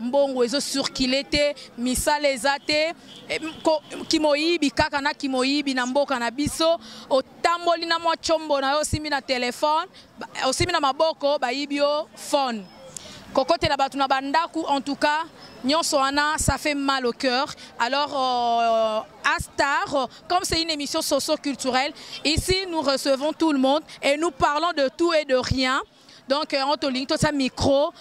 mbongo ezo circuler te misala eza te eh, kimoyibi kaka na kimoyibi na mboka na biso otamboli na mwa chombo na yo osimbi na telefone osimbi na maboko bayibi yo phone kokotela bato na bandako en tout cas nyonso wana ça fait mal au cœur alors euh, Astar, comme c'est une émission socio-culturelle, ici nous recevons tout le monde et nous parlons de tout et de rien. donc yango tolingi totia micro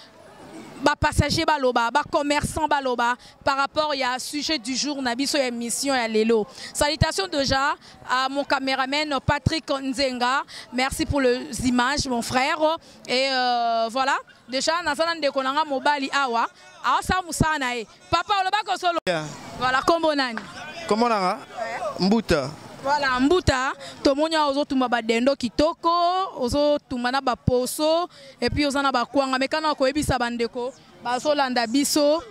bapassager baloba bacommerçant baloba par rapport ya sujet du jour na biso ya émission ya lelo salutation déjà à mon caméraman patrick nzenga merci pour les images mon frère et euh, voilà déjà naza na ndeko na nga mobali awa aosala mosala na ye Papa oloba ko solo. Yeah. Voilà kombo nani? Kombo nanga Mbuta. Voilà Mbuta, tomoni awa ozotumba badendo kitoko, ozotumba na baposo et puis oza na bakwanga mekana koyebisa bandeko bazolanda biso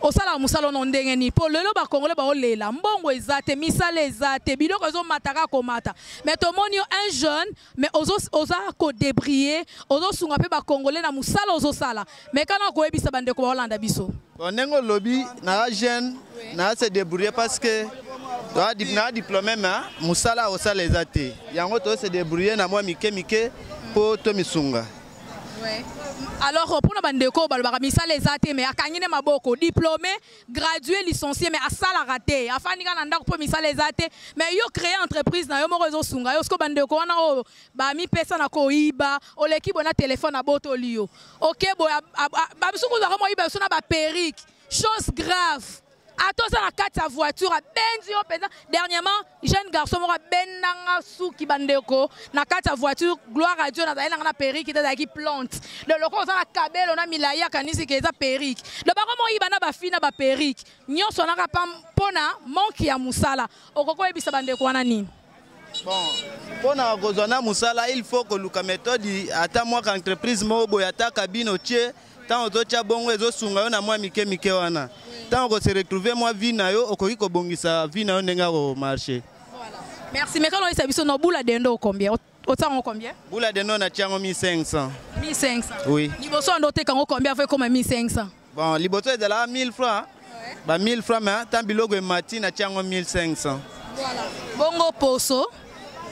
osalaka mosala ono ndenge nini mpo lelo bakongole baolela mbongo eza te misala eza te biloko ezomataka komata mais tomoni yo un jeune mais ozo oza ko débriller ozo sunga pe ba congolais na musala ozo sala mais kana ko yebisa bande ko Hollande biso bon nengo lobi na la jeune na se débrouiller parce que toi na diplôme mais musala o sala ezate yango to se débrouiller na moi mike mike po to misunga ouais alors mpona bandeko oyo balobaka misala eza te mais akangi nde maboko diplôme gradué licencié mais asalaka te afandi kaka na ndako mpo misala eza te mais yo créer entreprise na yo moko ezosunga yo siko bandeko wana oyo bamipesa na koyiba oleki boye na telefone abotoli yo oke boye bamisu kuzu ako moyiba biso na baperike chose grave ata oza na kati ya voiture abenzi yo mpenza dernièrement jeune garçon moko abenda nga suki bandeko na kati ya voiture gloire à dieu nazali na nga na perike te azalaki plante do lokola oza na kabelo na milai akanisi ke eza perike do bango moyiba na bafi na baperike nyonso naka pa mpo na manke ya mosala okoki koyebisa bandeko wana nini bon mpo na kozwa na mosala il faut koluka méthode ata mwaka entreprise moko boye ata kabine otie ntango ozotya bongo ezosunga yo na mwa mike mike wana ntango okose retrouve mwa vie na yo okoki kobongisa vie na yo ndenge akomarche merci mekana oyesa biso na bula dendo okombien otiango combien bula dendo natiango 1500 1500 oui liboso ando oteka yango combien avo ekoma 1500 bon liboso ezalaka 1000 francs ba 1000 francs mais tant biloko emati na tiango 1500 voilà bongo poso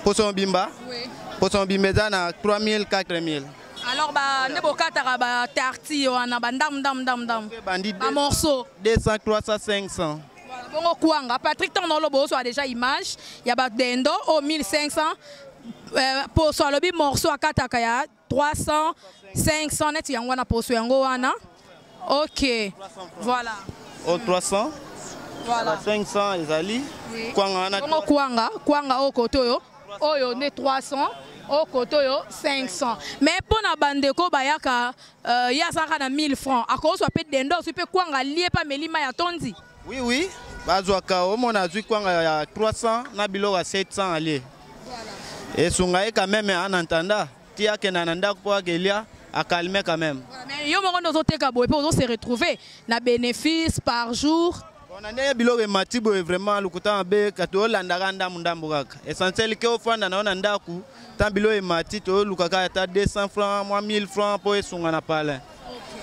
poso mobimba oui. poso mobimba eza na 3000 4000 alors ba nde bokataka ba tarti wana ba ndam ndam ndam ndam ba morceau 200 300 500 bongo kwanga patrick ntango naoloba ozwa déjà image ya badendo o 1500 euh, poso alobi morceau akataka ya 300 500 neti yango wana poso yango wana ok voilà o 300 voilà 500 ezali oui. kwanga wana bongo kwanga kwanga oyo kote oyo oyo nde 300 oyo kote oyo 500 mais mpo na bandeko bayaka uh, ye azalaka na 1000 francs akozwa mpe dende ozwi mpe kwanga alie mpe ameli mai atondi Oui oui, bazwaka omona azwi kwanga ya 300 na biloko ya 700 alie. Esunga ye quand même en entendant ti akenda na ndako mpo akelia akalme quand même. Mais yo moko nde ozoteka boye mpe ozo se retrouver na bénéfice par jour. na ndenge biloko emati boye vraiment lokuta mabe kati olandaka ndambu ndambu kaka essentiel ke ofanda na yo na ndako ntan biloko emati toyolukaka ata 200 francs mwa 1000 francs mpo esunga na palin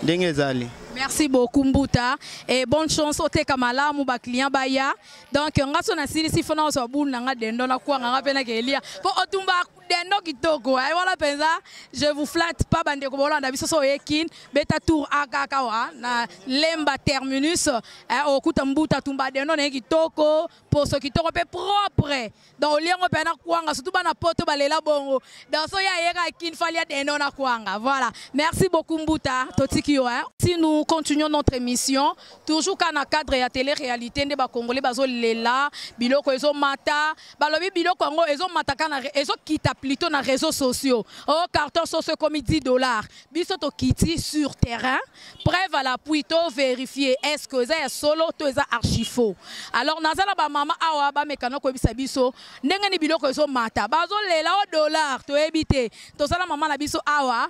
ndenge ezali merci beaucoup mbuta et bonne chance oteka malamu baclient baya donc nga so nasilisi fona ozwa bulu na nga dendo nakwanga nga mpe nakelia mpo otumba dendo kitoko ai eh, wana mpenza je vous flatte pas bandeko bolanda biso so oye kin beta tour akaka wa na lemba terminus eh, okuta mbuta tumba dendo na ye kitoko poso kitoko mpe propre donc olie yango mpe na kwanga surtout bana poto balela bongo donc so ye ayeka kin fali ya dendo na kwanga voilà merci beaucoup mbuta totiki yo hein si nous continuons notre émission toujours ka na cadre ya télé réalité nde bacongolais bazolela biloko ezomata balobi biloko yango ezomata ka ezokita plutôt na réseaux sociaux o oh, carton soso ekomi 10 dollars biso tokiti sur terrain preuve à l'appui to vérifier est ce que eza ya solo to eza archifaux alors naza na bamama awa bamekana koyebisa biso ndenge ni biloko ezomata bazolela o dollar toyebi te toza na mama na biso awa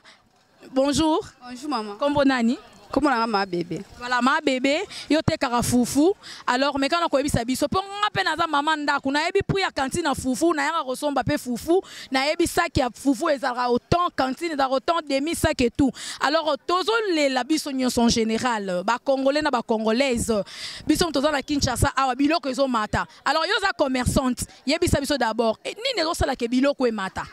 bonjour bonjour mama nkombo nani nkombo nanga ma bebe voilà ma bebe yo otekaka fufu alors mekana koyebisa biso mpo nga mpe naza mama ndako nayebi prix ya kantine ya fufu nayaka kosomba mpe fufu nayebi saki ya fufu ezalaka autant cantine ezalaka autant demi saki et tout alors tozolela biso nyonso en général bacongolais na bacongolaise biso moto toza na kinshasa awa biloko ezomata alors yo oza commerçante yebisa biso d'abord eh, nini ezosalaka biloko emata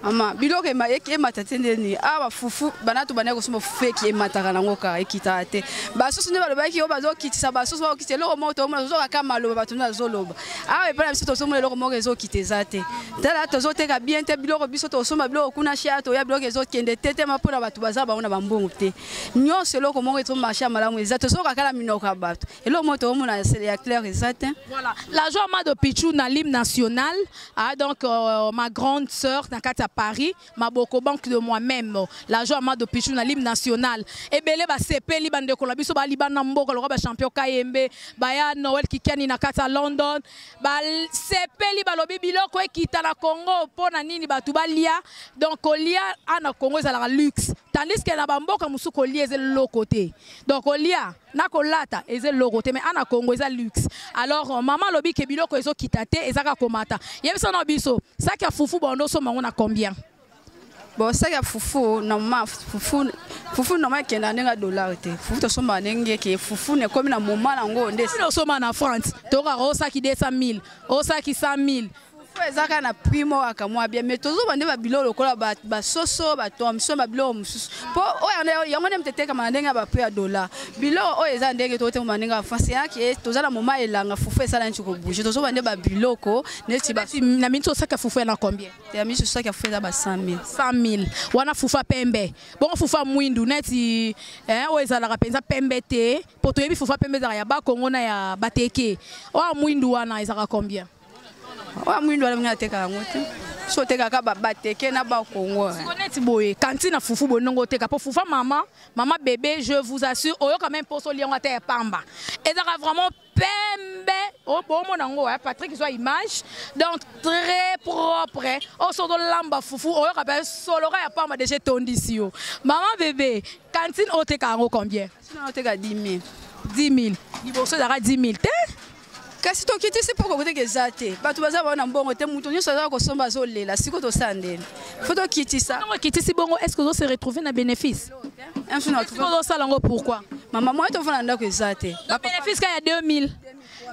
mama biloko emata te nde nini awa ah, bafufu banatu bandaki kosomba fufu eki emataka nango kaka ekitaka te basusu nde balobaki oyo bazokitisa basusu bakokitisa eloko moko toomona tozoka kaka maloba bato nde azoloba awa epai na biso tozomona eloko moko ezokita eza te tala tozoteka bien te biloko biso tosomba biloko kuna shia toya biloko ezokende te tema mpo na bato baza bango na bambongo te nyonso eloko moko ezomarshe ya malamu eza tozoka kala minoko ya bato eloko moko toomona ya claire eza te voilà la joie mado pichu na l'hymne national ah, donc euh, ma grande sœur na kati ya paris maboko banque de moi même la joie mado pichu na lim national ebele ba sepeli ba ndeko na biso ba libana mboka lokola ba champion kayembe baya noel kikiani na kati ya london ba sepeli balobi biloko ekita na congo mpo na nini bato balia donc kolia a na congo ezalaka luxe tandis ke na bamboka mosusu kolia eza eloko te donc kolia na kolata eza eloko te mais ana congo eza luxe alors euh, mama alobi ke biloko ezokita te eza kaka komata yebisa na biso saki ya fufu bondo osomba yango na combien bon saki ya fufu normal fufu fufu normal ekenda ndenge ya dollar te fufu tosomba ndenge ke fufu na ekomi na moma na yango nde osomba na france tokaka osaki 200 000 osaki 100 000 fufu eza kaka na prix moko ya kamwa bien mais tozoba nde babiloko lokola basoso batomson babiloko mosusu mpo oyo yango nde moto etekama na ndenge ya baprix ya dollar biloko oyo eza ndenge tokotekama na ndenge ya france eyaki eh, toza na moma elanga fufu esala neti kobouge tozoba nde babiloko neti na miniti osaki ya fufu ya na combien ya miniti osaki ya fufu eza ba 100 000 100 000 wana fufu ya pembe bongo fufu ya mwindu neti eh, oyo ezalaka mpenza pembe te mpo toyebi fufu ya pembe ezalaka ya bakongo na ya bateke oyo ya mwindu wana ezalaka combien oyo mwindo alamini ateka yango te so otekaka bateke na bakongo eh. neti boye kanti na fufu boye ndongo oteka mpo fufa mama mama bebe je vous assure oyoka meme mposo olia yango ata ya pamba ezalaka vraiment pembe bomona yango eh, patrick zwa image donc très propre eh. oso tolamba fufu oyoka mpe soloka ya pamba deja etondisi yo mama bebe kantine oteka yango combien oteka 10 000 10 000 liboso ezalaka 10 000 te kasi tokitisi mpo kokoteka eza te bato baza bao na mbongo te moto nyonso azala kosomba azolela siko tosala ndeni fo tokitisa ntango akitisi bongo est ce que ozo se retrouve na bénéfice ozosala yango pourquoi mama moya tofanda ndako eza te bénéfice ka ya 2000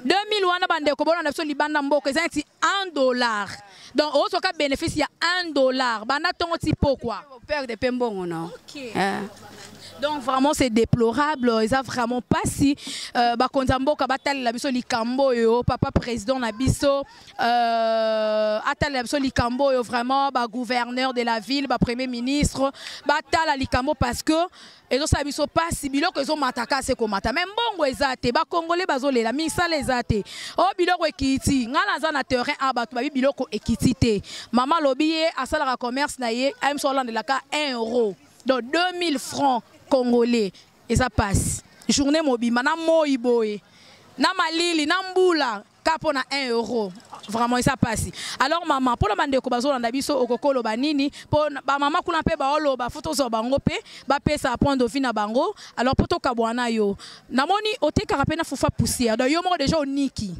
2000 wana bandeko bolanda biso libanda mboka eza neti 1 dollar Donc ozo ka bénéfice ya 1 dollar banda tongo ti pokwa. Père de pembongo non. OK. Eh. donc vraiment c'est déplorable eza vraiment mpasi euh, bakonzi ya mboka batalela biso likambo oyo papa président na biso euh, atalela biso likambo oyo vraiment bagouverneur de la ville bapremier ministre batala likambo parce que ezosala biso pasi biloko ezomata kasi ekomata me mbongo eza te bakongole bazolela misala eza te o oh, biloko ekiti ngai naza na terrain a bato babi biloko ekiti te mama alobi ye asalaka commerce na ye amso alandelaka 1 euro donc 2000 francs congolais eza pasi journée mobimba na moi boye na malili na mbula ka mpo na 1 euro vraiment eza mpasi alors mama mpo na bandeko bazolanda biso okokoloba nini mpo bamama kuna mpe baoloba fo tozwa bango mpe bapesa point de vue na bango alors mpo tokabwana na yo namoni otekaka mpe na fufa poussière donc yo moko deja oniki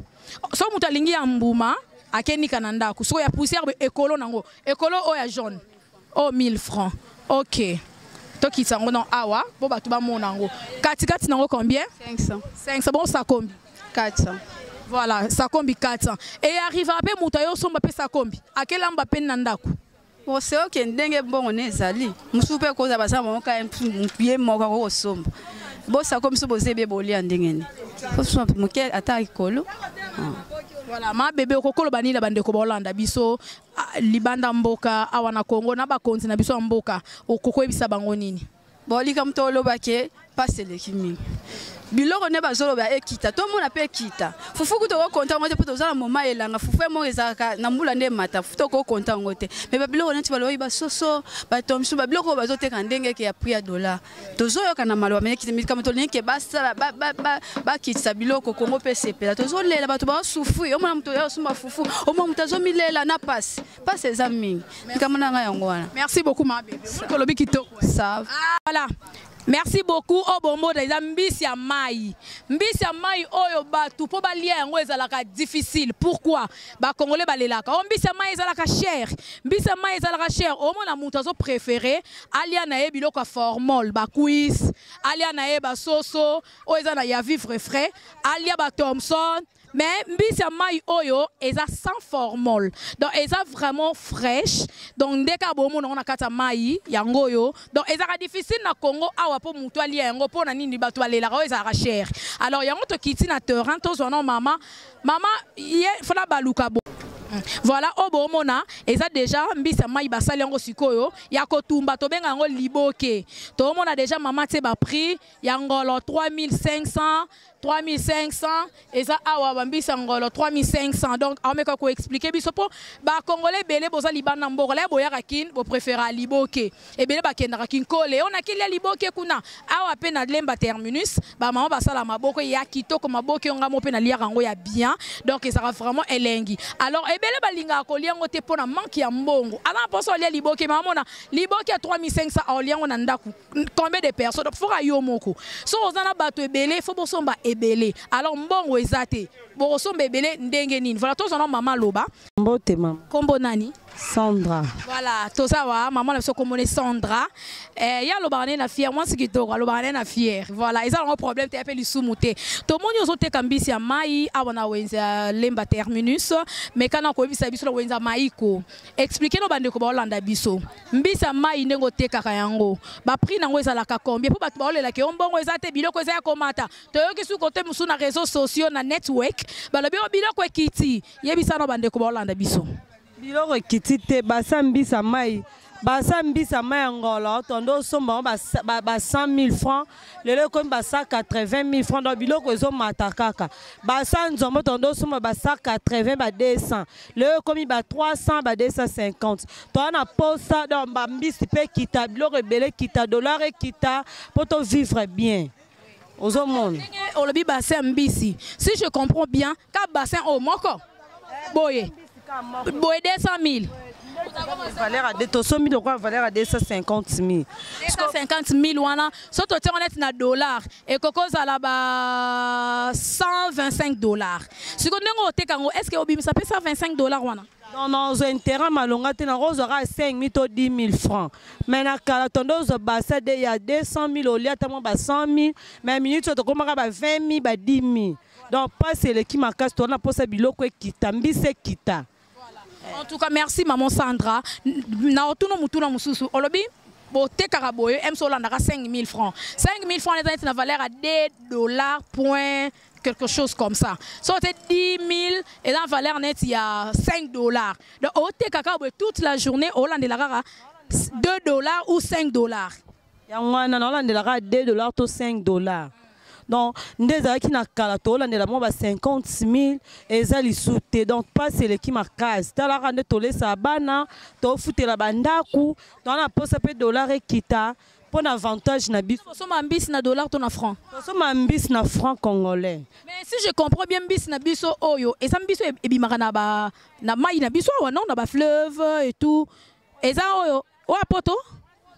so moto alingi ya mbuma akenika na ndako soko ya poussière ekolo nango ekolo oyo ya jaune oh 1000 francs ok tokitisa yango na awa mpo bato bamona yango katikati na yango combien 500 500 bongo sakombi 400 voilà sakombi 400 eye arrivaka mpe moto aye osomba mpe sakombi akelamba mpe na ndako ose oke ndenge mbongo ne ezali mosusu mpe koza baza bango ka ye moko akoki kosomba bosako biso boza ebe bolia ndenge ne moke ata likolo ah. voilà ma bebe okokoloba nini na bandeko baolanda biso libanda mboka awa na Congo na bakonzi na biso ya mboka okokoyebisa bango nini bon likambo toloba ke mpasi eleki mingi biloko nde bazoloba ekita tomona mpe ekita fufu kutu okokonta yango te mpo toza na moma elanga fufu yango ezalaka na mbula nde emata fufu tokokonta yango te me babiloko neti balobi basoso batomsu babiloko oyo bazoteka ndenge eke ya prix ya dollar tozoyoka na maloba melikambo tolingi ke basala bakitisa biloko kongo mpe esepela tozolela bato baosufui omona moto ya osumba fufu omona moto azomilela na pasi pasi eza mingi likambo na ngai yango wana merci beaucoup mabebolobi kitoko ah, voilà merci beaucoup oyo bomona eza mbisi ya mai mbisi ya mai oyo bato mpo balia yango ezalaka difficile pourquoi bakongole balelaka oyo oh, mbisi ya mai ezalaka chere mbisi ya mai ezalaka chere omona moto azo préféré alia na ye biloko ya formol bakuis alia na ye basoso oyo eza na ya vivre frais alia bathomson mais mbisi ya mai oyo eza sans formol donc eza vraiment fraîche donc nde kaka bomona yango na kati ya mai yango oyo donc ezalaka difficile na congo awa mpo motu alia yango mpo na nini bato balelaka oyo ezalaka chere alors yango tokiti na terrain tozwa na mama mama ye fana baluka bo mm. voilà oyo boomona eza deja mbisi ya mai basali yango sikoyo ya kotumba tobenga yango liboke toomona deja mama tie baprix ya ngolo 3500 3500 eza awa bambisi ya ngolo 3500 donc aomeka koexplike biso mpo bakongole ebele boza libanda mboka laye boyaka kin bopréféra liboke ebele bakendaka kinkole oyo nakelia liboke kuna awa mpe na lemba terminus bamama basala maboko ya kitoko maboke yo ngamo mpe naliaka yango ya bien donc ezalaka vraiment elengi alors ebele balingaka kolia yango te mpo na manke ya mbongo aza na mposo alia liboke ma amona liboke ya 3500 aolia yango na ndako combien de personnes donc foka yo moko soki oza na bato ebele fo bosomba ebele alors mbongo eza te bokosomba ebele ndenge nini voilà tozana mama aloba mbote mama nkombo nani Sandra. Voilà, toza wa maman na biso komone Sandra. Eh ya lobaka na fière, moi ce kitoko lobaka na fière. Voilà, ils ont un problème te appelle lisumu te. To moni ozo te kambisi ya mai awa na wenza lemba terminus, mais kana ko bisa biso na wenza mai ko. Expliquer no bande ko ba Hollanda biso. Mbisa mai ndengo te kaka yango. Ba prix nango ezala ka combien pour bato ba olela ke ombongo eza te biloko eza ya komata. To yoki su kote musu na réseaux sociaux na network, balobi o biloko ekiti. Yebisa no bande ko ba Hollanda biso. biloko ekiti te basa mbisa mai basa mbisa mai ya ngolo tondo osomba yango ba 100 000 francs lelo ekomi ba 180 000 francs donc biloko ezomata kaka basa nzombo tondo osomba ba 180 ba 200 lelo ekomi ba 300 ba 250 toa na posa donc bambisi mpe ekita biloko ebele ekita dollar ekita mpo tovivre bien ozomona olobi bassin mbisi si je comprends bien ka bassin oyo moko boye boye 200 mille valeur ya tosombi lokola valeur ya 250 000 250 000 wana so totie ngo neti na dollar ekoki ozala ba 125 dollar sikoyo ndenge oteka yango est ce que obimisa mpe 125 dollar wana non non ozwa intérêt malonga te nango ozwa kaka 5000 to 10000 francs mais na kala tonde ozwa basa de ya 200000 olia ata mwa ba 100000 mais minute oyo tokomaka ba 20000 ba 10000 donc mpasi eleki makasi towana mposa biloko ekita mbisi ekita en tout cas merci maman sandra na otuna motuna mosusu olobi botekaka boye mso olandaka 5000 francs 5000 francs eza neti na valeur ya 2 dollar point quelque chose comme ça so c'est 10 000 et la valeur nette il y a 5 dollars donc au tekaka toute la journée au de la rara 2 dollars ou 5 dollars yango wana naolandelaka 2 dollars to 5 dollars donc nde ezalaki na kala tolandela mwa ba 50 000 eza lisu te donc mpasi eleki makasi talaka nde tolesa bana tofutela bandako toa na mposa mpe dollar ekita mpo na avantage na biso kosomba mbisi na dollar to na franc kosomba mbisi na franc congolais mais si je comprends bien mbisi na biso oyo eza mbisi oyo ebimaka na, ba, na mai na biso awa non na bafleuve et tout eza oyo oyo apoto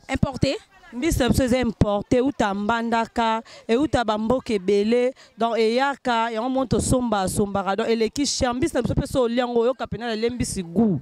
importe mbisi na biso eza importe euta mbandaka euta bamboka ebele donc eyaka yango moni tosomba asombaka donc eleki cher mbisi na biso mpe so olia yango oyoka mpena na lie mbisi gout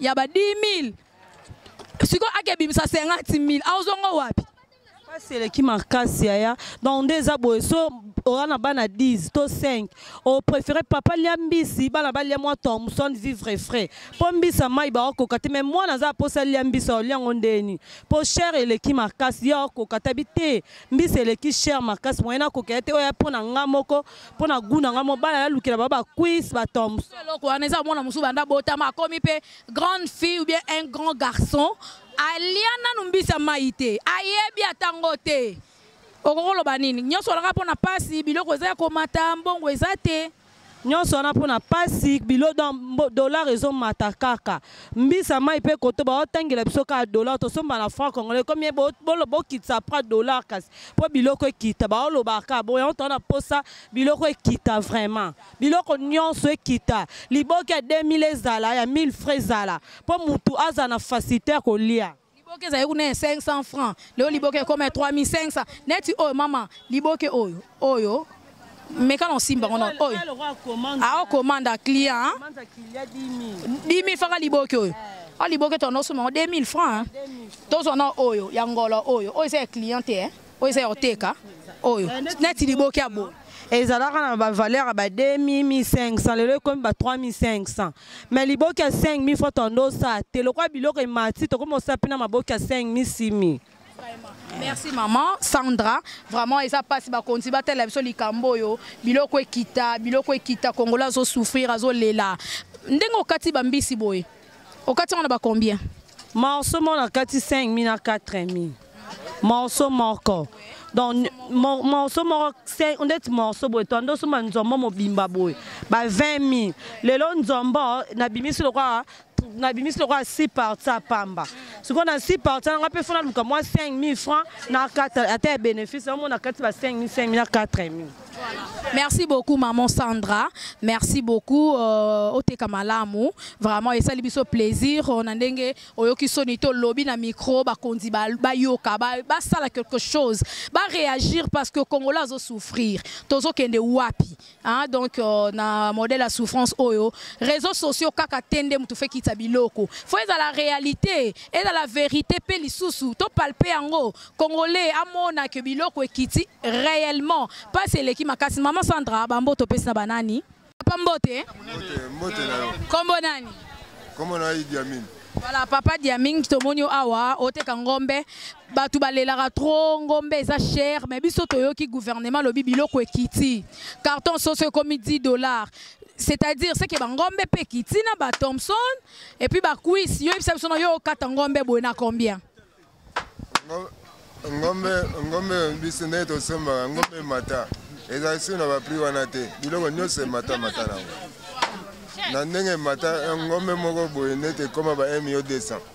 ya ba 10000 sikoyo akebimisa 50000 aozongo wapi mpasi eleki makasi yaya donc nde eza boye so oza na bana 10 to 5 opréféré papa lia mbisi bana balia mwa thomson vivre frais mpo mbisi ya mai baokoka te mai mwana aza aposa lia mbisi aolia yango ndeni mpo chere eleki makasi ye aokoka tabi te mbisi eleki chere makasi moyena akokela te oya mpo na nga moko mpo na goût na ngai mobali ayalukela ba bacuis batombs eloko wana eza mwana mosusu banda botama akomi mpe grande fille ou bien un grand garçon alia nanu mbisi ya mai te ayebi ata ngo te okoki koloba nini nyonso olaka mpo na mpasi biloko eza ya komata mbongo eza te nyonso wana mpo na mpasi bilo dollar ezomata kaka mbisa mai mpe koto baotangela biso kaka dollar tosomba na franc congolais ekomi bokitisa pra dollar kasi mpo biloko ekita baolobaka kaka boye yango toa na mposa biloko ekita vraiment biloko nyonso ekita liboke ya 2000 ezala ya 1000 frais ezala mpo motu azala na facilité ya kolia liboke ezali kuna ya 500 francs leo liboke ekoma ya 3500 neti oyo mama liboke oyo oyo meka na osimba ngo na oyo ao commande a client 10000 faka liboki oyo a liboki to nosuma ngo 2000 francs tozwa na oyo ya ngolo oyo oyo eza ya client te oyo eza ya oteka oyo neti liboki ya boye ezalaka na bavaleur ya ba 2500 lelo ekomi ba 3500 mai liboki ya 5000 fo tondo osa te lokola biloko emati tokomi osapi na maboki ya 5000 6000 merci maman sandra vraiment eza mpasi bakonzi batalela biso likambo oyo biloko ekita biloko ekita kongola azosouffrir azolela ndenge okati bambisi boye okati yango na bacombien morceau moko nakati 5 mi na 4 mi morceau moko donc morceau moko ndeti morceau boye to andosomba nzombo mobimba boye ba 20 mi lelo nzombo nabimisi lokola nabimisi lokola si parti ya pamba sikoyo na si parti nanga mpe fona luka mwa 5000 franc na kata ata ya bénéfice omona kati ba 5000 5000 na 4000 merci beaucoup maman sandra merci beaucoup euh, oteka malamu vraiment esali biso plaisir euh, na ndenge oyoki soni to lobi na micro bakonzi bayoka ba basala ba quelque chose baréagir parce que congolais azosouffrir tozokende wapi Hein, donc euh, na modèle ya souffrance oyo réseaux sociaux kaka te nde moto fekitisa biloko fo ezala réalité ezala vérité mpe lisusu topalpe yango congolais amona ke biloko ekiti réellement mpasi eleki makasi mama sandra bambo topesi na banani papa mbote kombo nani kombo na idi amini Voilà, papa Diaming, tomoni awa, oteka ngombe. bato balelaka trop ngombe eza cher mais biso toyoki gouvernement alobi biloko ekiti carton soso ekomi 10 dollars c'est-à-dire seke bangombe mpe ekiti na ba thomson epuis bakuisi yo yebisa biso na yo okata ngombe boye na combien ngombe ngombe biso nde tosombaka ngombe mata ezali su na baprix wana te biloko nyonso emata mata nango na ndenge mata ngombe moko boye nde tekoma ba mio 200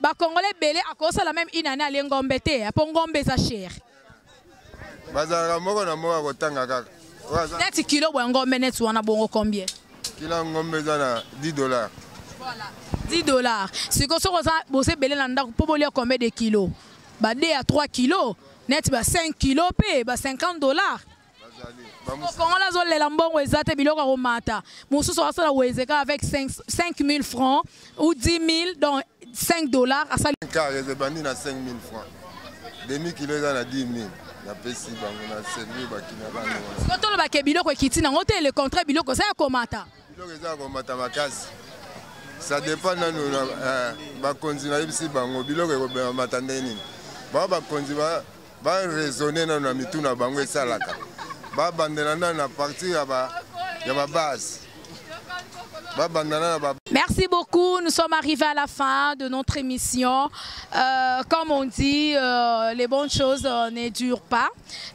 ba congolais bele akosala même une année ale ngombe te po ngombe eza cher bazalaka moko na moko akotanga kaka neti kilo bwa ngombe neti wana bongo combien kilo ya ngombe eza na 10 dollars voilà 10 dollars sikoyo soki oza boza ebele na ndako mpo bolia combien de kilo ba 2 ya 3 kilo neti ba 5 kilo mpe ba 50 dollars Kongola azolela mbongo eza te biloko akomata mosusu asala wezeka avec 5000 francs ou 10 000 donc 5 dollars asali car ezebandi na 5000 francs demi kilo eza na 10 000 napesi bango na servi bakina bango tolobake biloko ekiti nango te le contraire biloko eza ya komata biloko eza komata makasi ça dépend nanu eh, bakonzi nayebisi bango biloko ekomata ndenge nini bao bakonzi baraisonne nanu na mitu na bango esalaka babandela nanu na partir ya babase babandana na Merci beaucoup. Nous sommes arrivés à la fin de notre émission. Euh, comme on dit, euh, les bonnes choses euh, ne durent pas.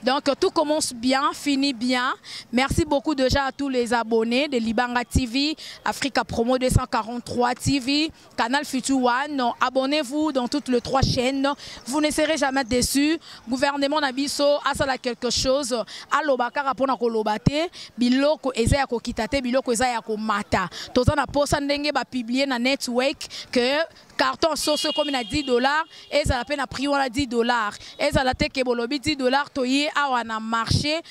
Donc tout commence bien, finit bien. Merci beaucoup déjà à tous les abonnés de Libanga TV, Africa Promo 243 TV, Canal Future One. Abonnez-vous dans toutes les trois chaînes. Vous ne serez jamais déçus. Gouvernement Nabiso a ça quelque chose. Alobakara pona kolobate, biloko eza ya kokitate, biloko eza ya komata. Tozana posa ndenge ba publier na network que carton soso ekomi na 10 dollars ezala mpe na prix wana 10 dollars ezala te ke bolobi 10 dollars toye awa na marché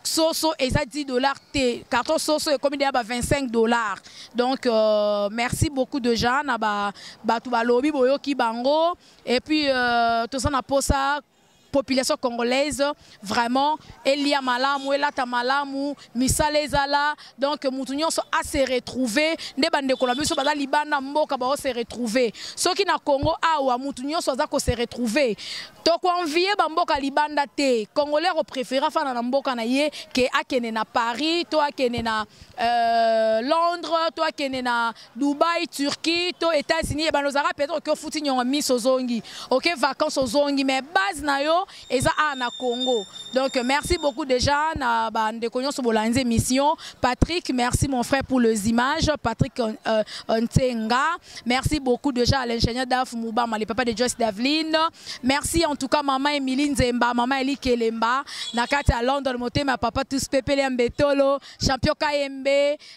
soso eza 10 dollars te carton soso ekomi deya ba 25 dollars donc euh, merci beaucoup déjà na bato ba balobi boyoki bango et puis euh, toza na posa population congolaise vraiment elia malamu elata malamu misala ezala donc mutu nyonso a se retrouver nde bandeko na biso baza libanda mboka bao se retrouver soki na congo awa mutu nyonso aza ko se retrouver tokoenvie bamboka libanda te congolais akoprefere afana na mboka na ye ke akende na paris to akende na euh, londres to akende na Dubaï, Turquie, to États-Unis, et ben ozaka peut-être que futi nyongo miso ozongi. OK, vacances ozongi, mais base na yo eza a na Congo. Donc merci beaucoup déjà na ba ndeko nyonso bolanze mission. Patrick, merci mon frère pour les images. Patrick euh, euh, Ntenga, merci beaucoup déjà à l'ingénieur Daf Moubama, le papa de Joyce Daveline. Merci en tout cas maman Emilie Nzemba, maman Eli Kelemba, na kati à London, motema papa tous pepele mbetolo, champion Kayembe,